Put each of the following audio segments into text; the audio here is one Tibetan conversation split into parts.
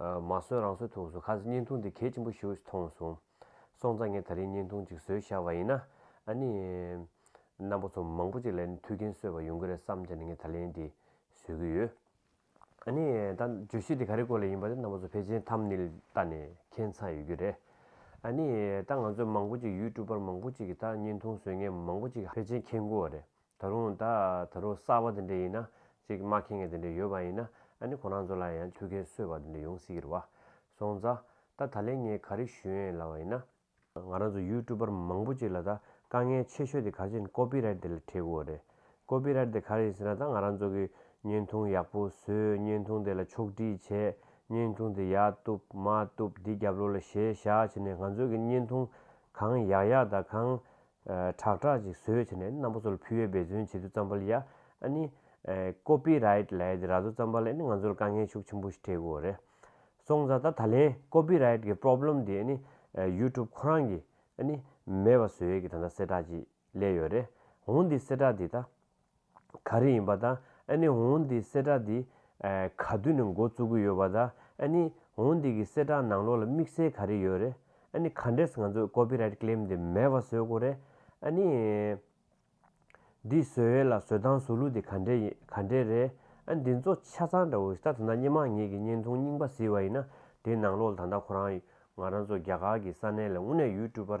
མ་གསོན་རང་གསོན་ཐུགས་སུ་ཁ་ཟེར་བརྙན་ཐུང་འདི་གལ་ཆེན་པོ་ཞིག་མཐོང་སོང། སོང་ཙང་ངས་ད་རིང་བརྙན་ཐུང་ཅིག་བཟོས་ཤར་བ་ཡིན་ན། ཨ་ནི། རྣམ་པ་ཚོ་མང་པོ་ཅིག་ལས་ནི་མཐུ་རྐྱེན་གསོས་པ་ཡོང་གི་རེད་བསམ་ཏེ་ནི་ངས་ད་ལན་འདི་བཟོས་ཀྱི་ཡོད། ཨ་ནི། ད་བརྗོད་གཞི་འདི་ག་རེ་སྐོར་ལ་ཡིན་པ་དེ་རྣམ་པ་ཚོ་ཕལ་ཆེན་ཐམ་ནིལ་ལྟ་ནས་མཁྱེན་ཚར་ཡོད་ཀྱི་རེད། ཨ་ནི། ད་ང་ཚོས་མང་པོ་ཅིག་ཡུས་ཀྲུ་པར་མང་པོ་ཅིག་གིས་ད་བརྙན་ཐུང་བཟོས་ངས་མང་པོ་ཅིག་ཕལ་ཆེན་མཁྱེན་དགོས་བ་རེད། ད་རུང་ད་ད་རུང་གསར་བ་དེ་འདྲས་ཡིན་ན་ཅིག་མ་ཁེངས་ངེས་དེ་འདྲས་ཡོད་པ་ཡིན་ན་ཨ་ནི་ཁོ་རང་ཚོ་ལ་ཡང་ཐུགས་ཁེངས་གསོས་བ་དེ་འདྲས་ཡོང་སྲིད་ཀྱི་རེད། སོང་ཙ། ད་ད་ལན་ངས་ག་རེ་ཞུ་ཡན་ལ་བ་ཡིན་ན། ང་རང་ཚོ་ཡུས་ཀྲུ་པར་མང་པོ་ཅིག་ལ་ད་དཀའ་ངལ་ཆེ་ཤོས་དེ་ག་རེ་ཡིན་ཀོ་པི་རལ་དེ་ལ་འཕྲད་དགོས་བ་རེད། ཀོ་པི་རལ་དེ་ག་རེ་ཡིན་ཟེར་ན་ད་ང་རང་ཚོ་གིས་བརྙན་ཐུང་ཡག་པོ་བཟོས་བརྙན་ཐུང་དེ་ལ་ཕྱོགས་བསྒྲིགས་བྱས་བརྙན་ཐུང་དེ་ཡག་བཏུབ་མ་བཏུབ་དེ་རྒྱབ་ལོགས་ལ་ཞེ་བཞག་བྱས་ནས་ང་ཚོ་གིས་བརྙན་ཐུང་གང་ཡག་ཡག་དང་གང་ཁྲག་ཁྲག་ཅིག་ཟོས་བྱས་ནས་རྣམ་པ་ཚོལ་ཕུལ་བས་འབད་བརྩོན་བྱེད་དུ་བརྩམས་པ་ལ་ཡ་ཨ་ནི། Copyright ལས་ར་བཟོ་བརྩམས་པ་ལ་ཨ་ནི་ང་ཚོར་དཀའ་ངལ་ཤུགས་ཆེན་པོ་ཞིག་འཕྲད་དགོས་རེད་སོང་ཙང་ད་ད་ལན Copyright གི Problem དེ་ཨ་ནི YouTube ཁོ་རང་གིས་ཨ་ནི་མེད་པ་བཟོས་ཀྱི་ད་ད་གསལ་བསྒྲགས་ཅིག་ལས་ཡོད་རེད་འོང་འདི་གསལ་བསྒྲགས་འདི་ད། ག་རེ་ཡིན་པ་ད་ཨ་ནི་འོང་འདི་གསལ་བསྒྲགས་འདི་ག་དུས་ནས་འགོ་བཙུགས་གི་ཡོད་པ་ད་ཨ་ནི་འོང་འདི་གི་གསལ་བསྒྲགས་ནང་ལོགས་ལ་དམིགས་བསལ་ག་རེ་ཡོད་རེད་ཨ་ནི་ག་འདྲས་ང་ཚོས་ཀོ་པི་རཱིད་ཀླེམ་འདི་མེད་པ་བཟོས་དགོས་རེད་ཨ་ནི་འདི་བཟོས་ཡོད་ལ་བཟོས་སྟངས་བཟོ་ལུགས་འདི་ག་འདྲས་ག་འདྲས་རེད་ཨ་འདི་ཚོ་ཆ་ཚང་འདྲ་བོ་ཞིག་ད་ད་ནངས་སྙན་མང་ངེད་ཀྱི་བརྙན་ཐུང་རྙིང་པ་གཟིགས་པ་ཡིན་ན་དེའི་ནང་ལོགས་ལ་ད་ད་ཁོ་རང་ང་རང་ཚོ་རྒྱ་གར་གྱི་ས་གནས་ལ་དངོས་གནས་ཡུལ་སྤྲུལ་པར་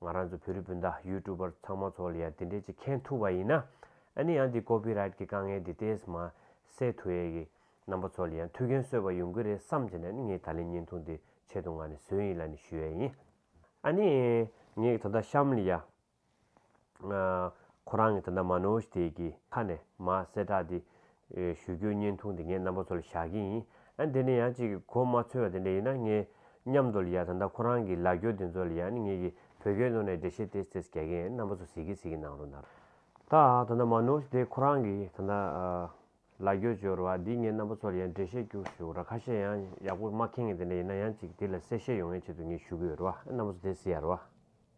ང་རང་ཚོ་བོད་རིགས་སྤུན་ཟླ་ཡུལ་ཀྲུ་པར་ཚང་མ་ཚོ་ལ་ཡང་དེ་འདྲའི་ཅིག་མཁྱེན་ཐུབ་པ་ཡིན་ན། ཨ་ནི་ཡང་དེ Copy Right གི་དཀའ་ངལ་དེ་ཏེས་མ་སེལ་ཐུ་ཡས་ཀི་རྣམ་པ་ཚོ་ལ་ཡང་ཐུགས་འགན་གསོས་པ་ཡོང་གི་རེད་བསམ་བྱས་ནས་ནི་ངས་ད་ལན་བརྙན་ཐུང་དེ་ཆེད་དུ་ང་ནི་བཟོས་ཡིན་ལ་ནི་ཞུ་ཡས་ཡིན། ཨ་ནི་ངས་ད་ལྟ་གཤམ་ལ་ཡང་ཁོ་རང་གི་ད་ལྟ་མ་ནོའོ་ཞི་ཐེས་ཀི་ཁ་ནས་མ་སེལ་དྲག་དེ་ཞུ་རྒྱུའི་བརྙན་ཐུང་དེ་ངས་རྣམ་པ་ཚོ་ལ་བཞག་གི་ཡིན། ཨ་དེ་ནས་ཡང་ཅིག་གོ་མ་ཚོལ་བ་དེ་འདྲ་ཡིན་ན་ངས་མཉམ་དུ་ལ་ཡ་ད་ལྟ་ཁོ་རང་གི་ལ་རྒྱོ་དེ་ཚོ་ལ་ཡ་ནི་ངེད་ཀྱི་བོད་སྐད་ནོར་ནས་འདྲེ་བཤད་དེ་ཚེས་ག་གི་རྣམ་པ་ཚོ་ཟིག་གི་ཟིག་གི་གནང་རོགས་གནང། ད་ད་ད་མ་ནོར་དེ་ཁོ་རང་གི་ད་ད་ལ་རྒྱོ་སྦྱོར་བ་འདི་ངས་རྣམ་པ་ཚོ་ལ་ཡ་འདྲེ་བཤད་རྒྱུ་ཞུ་ར་ཁ་ཤས་ཡང་ཡག་པོ་མ་ཁེངས་ངེས་དེ་འདྲ་ཡིན་ན་ཡང་ཅིག་དེ་ལ་གསལ་བཤད་ཡོང་ངེས་ཆེད་དུ་ངས་ཞུ་གི་ཡོད་ར་བ་རྣམ་པ་ཚོ་དེ་ཟི་ཡ་ར་བ།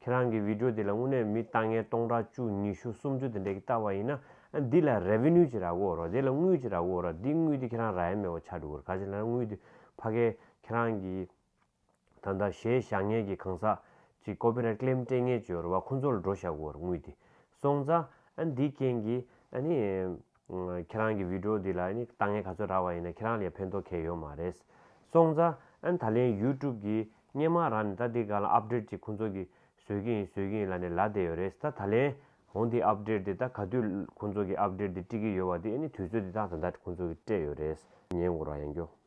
ཁྱེད་རང་གི Video དེ་ལ་དངོས་གནས་མི་ལྟ་ངན་སྟོང་ཕྲག་བཅུ་ཉི་ཤུ་སུམ་ཅུ་དེ་འདྲས་ཀྱི་ལྟ་བ་ཡིན་ན་འདི་ལ Revenue ཅི་རག་འོ་རོགས་དེ་ལ་དངུལ་ཅི་རག་འོ་རོགས་འདི་དངུལ་དེ་ཁྱེད་རང་རག་ཡ་མེད་འོ་ཆག་འགྲོ་གི་རེད་ག་ཅེ་ན་དངུལ་དེ་ཕ་གས་ཁྱེད་རང་གི་ད་ལྟ་གཞས་བཞག་ངན་གྱི་གང་ཟག་ཅིག Copyright Claim སྤྲད་ངན་བྱོས་འོ་རོགས་ཁོང་ཚོ་ལ་འགྲོ་བཞག་འོ་རོགས་དངུལ་དེ་སོང་ཙང་འདིའི་རྐྱེན་གྱིས་ཨ་ནི། ཁྱེད་རང་གི་བི་དྲོ་འདི་ལ་ལྟ་ངན་ག་ཚོད་རག་པ་ཡིན་ན་ཁྱེད་རང་ལ་ཡང་ཕན་ཐོག་ཁེལ་ཡོད་མ་རེད། སོང་ཙ་ཨན་ད་ལན་ཡུ་ཀྲུབ་ཀྱི་སྙན་མང་རག་ནས་ད་འདི་ག་ལ་ཨབ་ཀྲེད་ཅིག་ཁོང་ཚོ་གི་བཟོས་ཀྱི་ཡིན་བཟོས་ཀྱི་ཡིན་ལ་ནས་ལ་བསྡད་ཡོད་རེད་ད་ད་ལན་ཧོང་དེའི་ཨབ་ཀྲེད་དེ་ད་ག་དུས་ཁོང་ཚོ་གི་ཨབ་ཀྲེད་དེ་དཀྲིག་གི་ཡོད་བ་དེ་ཨ་ནི་དུས་ཚོད་དེ་དག་ད་ད་ཁོང་ཚོ་གི་སྤྲད་ཡོད་རེད་ཉན་དགོ་ར་ཡང་རྒྱོ།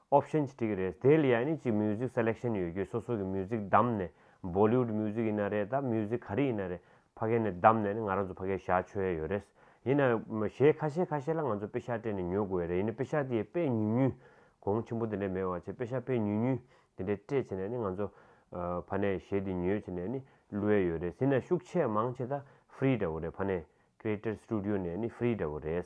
Option། ཅིག་རེད། དེ་ལ་ཡང་ནི་གཅིག Music Selection ཡོད་རྒྱུ་སོ་སོ་གི Music བདམས་ནས Bollywood Music ཡིན་ན་རེད་དམ Music ག་རེ་ཡིན་ན་རེད་ཕ་གས་ནས་བདམས་ནས་ནི་ང་རང་ཚོ་ཕ་གས་བཞག་ཆོད་ཡ་ཡོད་རེད། ཡིན་ན་གཞས་ཁ་ཤས་ཁ་ཤས་ལ་ང་ཚོ་དཔེ་ཤག་སྤྲད་ནས་ཉོ་དགོས་ཡ་རེད་ཡིན་ན་དཔེ་ཤག་དེའི་དཔེ་ཉུང་ཉུང་གོང་ཆེན་པོ་དེ་འདྲ་མེད་བར་ཆད་དཔེ་ཤག་དཔེ་ཉུང་ཉུང་དེ་འདྲ་སྤྲད་བྱས་ནས་ནི་ང་ཚོ་ཕ་ནས་གཞས་དེ་ཉོས་བྱས་ནས་ནི་བླུ་ཡ་ཡོད་རེད་ཟིན་ན་ཤུགས་ཆེ་མང་ཆེ་ད Free འདྲ་བོ་རེད་ཕ་ནས Creator Studio ནས་ནི Free འདྲ་བོ་རེད།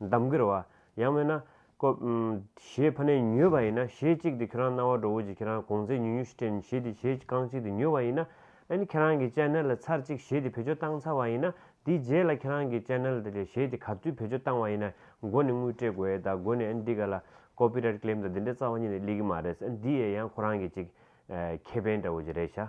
འདམ་གིར་བ། ཡང་མེད་ན། ཀོ། ཞེས་ཕ་ནས་ཉོས་པ་ཡིན་ན་ཞེས་གཅིག་དེ་ཁྱོད་རང་རྣ་བ་སྒྲོ་བོ་གཅིག་ཁྱེད་རང་གོང་ཚད་ཉུག་ཉུག་ཞིག་སྤྲད་ཞེས་དེ་ཞེས་རྐང་གཅིག་དེ་ཉོས་པ་ཡིན་ན། ཨན་ཁྱེད་རང་གི་ལྕེ་སྣེ་ལ་ཚར་གཅིག་ཞེས་དེ་བེད་སྤྱོད་བཏང་ཚར་བ་ཡིན་ན། དེའི་རྗེས་ལ་ཁྱེད་རང་གི་ལྕེ་སྣེ་ལ་དེ་ལས་ཞེས་དེ་ག་ཚོད་བེད་སྤྱོད་བཏང་བ་ཡིན་ན། མགོ་ནས་དངུལ་སྤྲད་དགོས་ད་མགོ་ནས་ཨན་འདི་ག་ལ། Copyright Claim དང་འདི་འདྲའི་རྩ་བ་གཉིས་ནི་གླེགས་ཀྱི་མ་རེད་ཨན་འདི་ཡས་ཡང་ཁོ་རང་གི་གཅིག། ཁེ་ཕན་འདྲ་བོ་གཅིག་རེད་བྱ།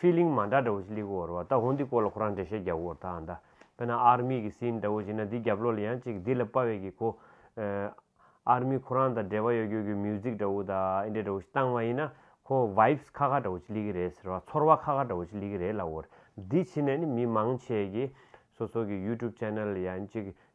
Feeling མ་འདྲ་འདྲ་བོ་ཞིག་ལིག་འོར་བ་ད་ཧོན་འདི་སྐོར་ལ་ཁོ་རང་འགྲེལ་བཤད་རྒྱག་འོར་ད་ད་པེ་ན་ཨར་མི་གི་སིན་འདྲ་བོ་ཞིག་ན་འདི་རྒྱབ་ལོག་ལ་ཡང་ཅིག་འདི་ལ་དཔའ་བས་གི་གོ་ཨར་མི་ཁོ་རང་དང་འབྲེལ་བ་ཡོད་རྒྱུ་གི Music འདྲ་བོ་ད་ཨེ་འདྲ་འདྲ་བོ་ཞིག་བཏང་བ་ཡིན་ན་ཁོ Vibes ཁ་ཁ་འདྲ་བོ་ཞིག་ལིག་གི་རེད་ཟེར་བ་ཚོར་བ་ཁ་ཁ་འདྲ་བོ་ཞིག་ལིག་གི་རེད་ལ་འོར་འདི་བྱིན་ནས་ནི་མི་མང་ཆེ་གི་སོ་སོ་གི YouTube Channel ལ་ཡང་ཅིག་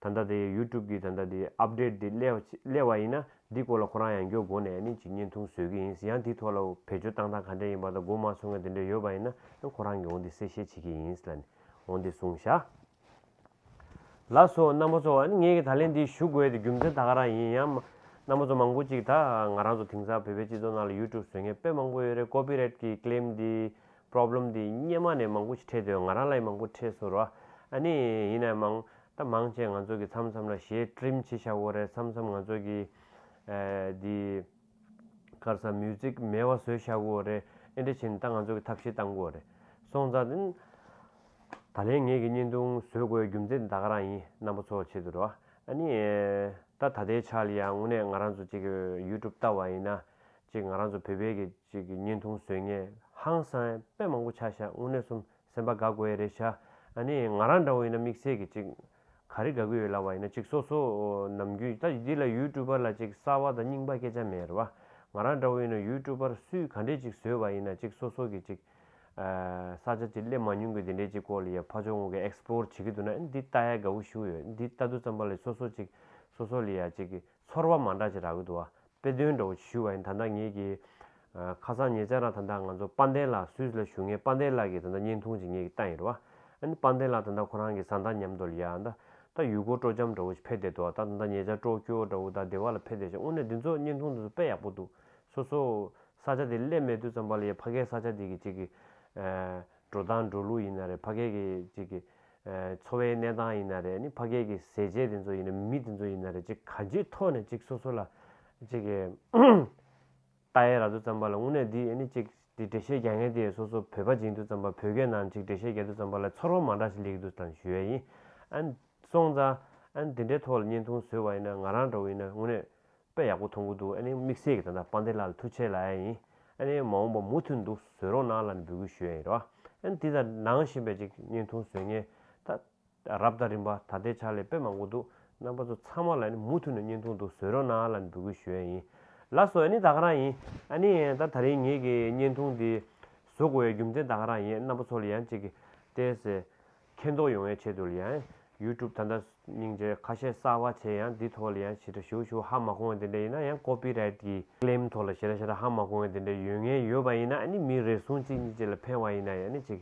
ད་ལྟ་དེ YouTube གི་ད་ལྟ་དེ Update དེ་སླེབས་བ་ཡིན་ན་འདི་སྐོར་ལ་ཁོ་རང་ཡང་མགྱོགས་སྒོ་ནས་ནི་ཅིག་བརྙན་ཐུང་བཟོས་ཀྱི་ཡིན་ཡང་འདི་ཐོག་ལ་བེད་སྤྱོད་བཏང་སྟངས་ག་འདྲ་ཡིན་པ་དང་གོ་མ་སོང་ངས་དེ་འདྲ་ཡོད་པ་ཡིན་ན་ཁོ་རང་གིས་འོང་དེ་གསལ་བཤད་བྱེད་ཀྱི་ཡིན་ལ་ནི་འོང་དེ་གསུངས་བཞག་ལ་སོགས་རྣམ་པ་ཚོ་ངས་ངས་ད་ལན་འདི་ཞུ་དགོས་ཏེ་རྒྱུ་མཚན་ད་ག་རང་ཡིན་ཡང་མ་རྣམ་པ་ཚོ་མང་པོ་ཅིག་ད་ང་རང་ཚོ་དེང་སང་བོད་པའི་སྤྱི་ཚོགས་ནང་ལ YouTube བཟོས་མཁན་དཔེ་མང་པོ་ཡོད་རེད Copyright གི Claim འདི Problem འདི་སྙེ་མ་ནས་མང་པོ་ཞིག་འཕྲད་དོན་ང་རང་ལ་ཡི་མང་པོ་འཕྲད་སོར་བ་ཨ་ནི་ཡིན་ན་ཡི་མང་ད་མང་བྱས་ང་ཚོ་གི་མཚམས་མཚམས་ལ་གཞས Trim བྱེད་བྱ་གོ་རེད་མཚམས་མཚམས་ང་ཚོ་གི་འདི་ཁར་ས Music མེད་བ་བཟོས་བྱ་གོ་རེད་ཨེ་འདྲ་བྱེད་ད་ང་ཚོ་གི་ཐབས་ཤེས་བཏང་གོ་རེད་སོང་ཙང་ད་ད་ལན་ངེད་གི་བརྙན་ཐུང་བཟོས་གོ་ཡའི་རྒྱུ་མཚན་ད་ག་རང་ཡིན་རྣམ་པ་ཚོ་བྱེད་དུ་རུ་བ་ཨ་ནི་ད་ད་ལྟའི་ཆ་ལ་ཡང་དངོས་གནས་ང་རང་ཚོ་གཅིག་གི YouTube བལྟ་བ་ཡིན་ན་གཅིག་ང་རང་ཚོ་བོད་པའི་གི། ཞིག་གི་བརྙན་ཐུང་བཟོས་ངས་ཧང་སངས་དཔེ་མང་པོ་ཆ་བཞག་དངོས་གནས་གསུམ་སེམས་པ་དགའ་དགོས་ཡས་རེད་ཤག་ཨ་ནི་ང་རང་འདྲ་བོ་ཡིན་ན་དམིགས་བསལ་གྱི་ཅིག་ག་རེ་དགའ་གི་ཡོད་ལབ་བ་ཡིན་ན་ཅིག་སོ་སོ་ནམ་རྒྱུན་ད་འདི་ལ་ཡུལ་ཀྲུ་པར་ལ་ཅིག་གསར་བ་དང་རྙིང་པ་སྐད་ཆ་མེད་རེད་བ་ང་རང་འདྲ་བོ་ཡིན་ན་ཡུལ་ཀྲུ་པར་སུས་ག་འདྲས་ཅིག་བཟོས་བ་ཡིན་ན་ཅིག་སོ་སོ་གི་ཅིག་ས་ཆ་ཅིག་སླེབས་མ་མྱོང་གི་འདི་འདྲས་ཅིག་ཀོ་ལི་ཡ་ཕ་ཆོག་ངོ་གི Explore བྱེད་ཀྱི་འདུག་ན་འདི་ལྟ་ཡས་དགའ་བོ་བཞུགས་ཡོད་འདི་ལྟ་དུ་ཙམ་པ་ལས་སོ་སོ་ཅིག་སོ་སོ་ལི་ཡ་ཅིག་ཚོར་བ་མ་འདྲ་ཅེས་ར་གུ་དུ་བདཔེ་དོན་འདྲ་བོ་ཅིག་ཞུས་བ་ཡིན་ད་ནངས་ངེད་ཀྱི། ཁ་སང་ཉེ་ཆར་ར་ད་ནངས་ང་ཚོ་དཔའ་ལྡན་ལགས་སུད་སི་ལ་བཞུགས་ངས་དཔའ་ལྡན་ལགས་ཀྱི་ད་ནངས་བརྙན་ཐུང་ཅིག་ངེད་ཀྱི་ལྟ་ཡིན་ར་བ། ཨ་ནི་དཔའ་ལྡན་ལགས་ད་ནངས་ཁོ་རང་གི་བཟའ་ཟླ་མཉམ་དུ་ལ་ཡ། ད་ཡུལ་སྐོར་སྤྲོ་འཆམ་འདྲ་བོ་ཅིག་ཕེབས་བསྡད་འདུག་ད་ནངས་ཉེ་ཆར་སྤྲོ་སྐྱོར་འདྲ་བོ་ད་སྡེ་བ་ལ་ཕེབས་བསྡད་བྱུང་དངོས་གནས་འདི་ཚོ་བརྙན་ཐུང་འདི་ཚོ་དཔེ་ཡག་པོ་འདུག་སོ་སོ། ས་ཆ་དེ་སླེབས་མེད་དུས་ཙམ་པ་ལ་ཡའི་ཕ་སྐད་ས་ཆ་དེ་གི་ཅིག་གི། འགྲོ་སྟངས་འགྲོ་ལུགས་ཡིན་ན་རེད་ཕ་སྐད་ཀྱི་ཅིག་གི། འཚོ་བའི་གནས་སྟངས་ཡིན་ན་རེད་ནི་ཕ་སྐད་ཀྱི་ཟས་བཅད་དེ་ཚོ་ཡིན་ན་མི་དེ་ཚོ་ཡིན་ན་རེད་ཅིག་ག་ཅིའི་ཐོག་ནས་ཅིག་སོ་སོ་ལ་ཅིག་གི་ལྟ་ཡས་ར་དུ་བརྩམས་པ་ལ་དངོས་གནས་འདི་ཡས་ནི་ཅིག་འདི་འགྲེལ་བཤད་རྒྱག་མཁན་དེ་ཡས་སོ་སོ་བོད་པ་སྦྱིན་དུ་བརྩམས་པ་བོད་སྐད་ནང་ཅིག་འགྲེལ་བཤད་རྒྱག་དུ་བརྩམས་པ་ལ་ཚོར་བ་མ་འདྲ་ཞིག་ལེགས་འདུག་དང་ཞུ་ཡས་ཡིན། ཨན། སོང་ཙང། ཨན་འདི་འདྲའི་ཐོག་ལ་བརྙན་ཐུང་བཟོས་བ་ཡིན་ན་ང་རང་འདྲ་བོ་ཡིན་ན་དངོས་གནས། དཔེ་ཡག་པོ་མཐོང་གི་འདུག་ཨ་ནི་དམིགས་བསལ་གྱི་ད་ལྟ་དཔལ་ལྡན་ལགས་ལ་ཐུགས་ཆེ་ལབ་ཡ་ཡིན་ཨ་ནི་མ་འོངས་པ་མུ་མཐུད་འདུག་བཟོད་རོགས་གནང་ལ་ནི་འབུལ་གུས་ཞུ་ཡ་ཡིན་རེད་བ་ཨ་ནི་དེ་ལྟར་ནང་བཞིན་པའི་ཅིག་བརྙན་ཐུང་བཟོས་ངེས་ད་རབ་ལྟ་རིམ་པ་ད་ལྟའི་ཆར་ལས་དཔེ་མང་པོ་འདུག་རྣམ་པ་ཚོ་ཚང་མ་ལ་ནི་མུ་མཐུད་ནས་བརྙན་ཐུང་འདུག་བཟོད་རོགས་གནང་ལ་ནི་འབུལ་གུས་ཞུ་ཡ་ཡིན། ལགས་སོ་ཨ་ནི་ད་ག་རང་ཡིན་ཨ་ནི་ད་ད་རིང་ངེད་ཀྱི་བརྙན་ཐུང་འདི་བཟོ་དགོས་ཡའི་རྒྱུ་མཚན་ད་ག་རང་ཡིན་རྣམ་པ་ཚོ་ལ་ཡང་ཅིག་བལྟས་ཟེར་མཁྱེན་རྟོགས་ཡོང་བའི་ཆེད་དུ་ལ་ཡང YouTube ད་ལྟ་སྙིང་རྗེ་ཁ་ཤས་གསར་བ་བྱས་ཡང་འདི་ཐོག་ལ་ཡང་ཞེ་དྲག་ཞུ་ཞུ་ཧ་མ་གོ་བ་དེ་འདྲ་ཡིན་ན་ཡང Copy Right གི Claim ཐོག་ལ་ཞེ་དྲག་ཞེ་དྲག་ཧ་མ་གོ་བ་དེ་འདྲ་ཡོད་ངེས་ཡོད་པ་ཡིན་ན་ནི་མི་རེ་ཟུང་གཅིག་གཉིས་བཅས་ལ་ཕན་བ་ཡིན་ན་ཡང་ནི་ཅིག་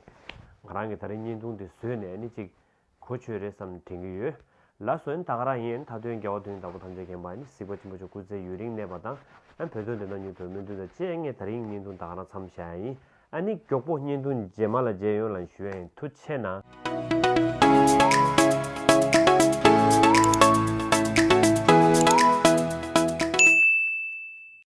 ང་རང་གི་ད་རེས་བརྙན་ཐུང་དེ་བཟོས་ནས་ནི་ཅིག་གོ་ཆོད་རེད་བསམ་ནས་དྲན་གྱི་ཡོད་ལ་སོ་ཡིན་ད་ག་རང་ཡིན་མཐའ་དོན་རྒྱལ་བ་དོན་གཉིས་བདག་པོ་ཐམས་ཅད་མཁྱེན་པ་ནི་གཟིགས་པ་ཆེན་པོ་མཆོག་སྐུ་ཚེ་ཡུན་རིང་གནས་པ་དང་ཡང་བོད་དོན་དོན་དག་སྙིང་དོན་སྨོན་འདུན་དང་བཅས་ངས་ད་རེས་ཡིན་བརྙན་ཐུང་ད་ག་རང་མཚམས་བཞག་ཡིན་ཨ་ནི་མགྱོགས་པོ་བསྙེན་ཐུང་རྗེས་མ་ལ་མཇལ་ཡོང་ལ་ཞུའེ་དྷུ་ཆེ་ན།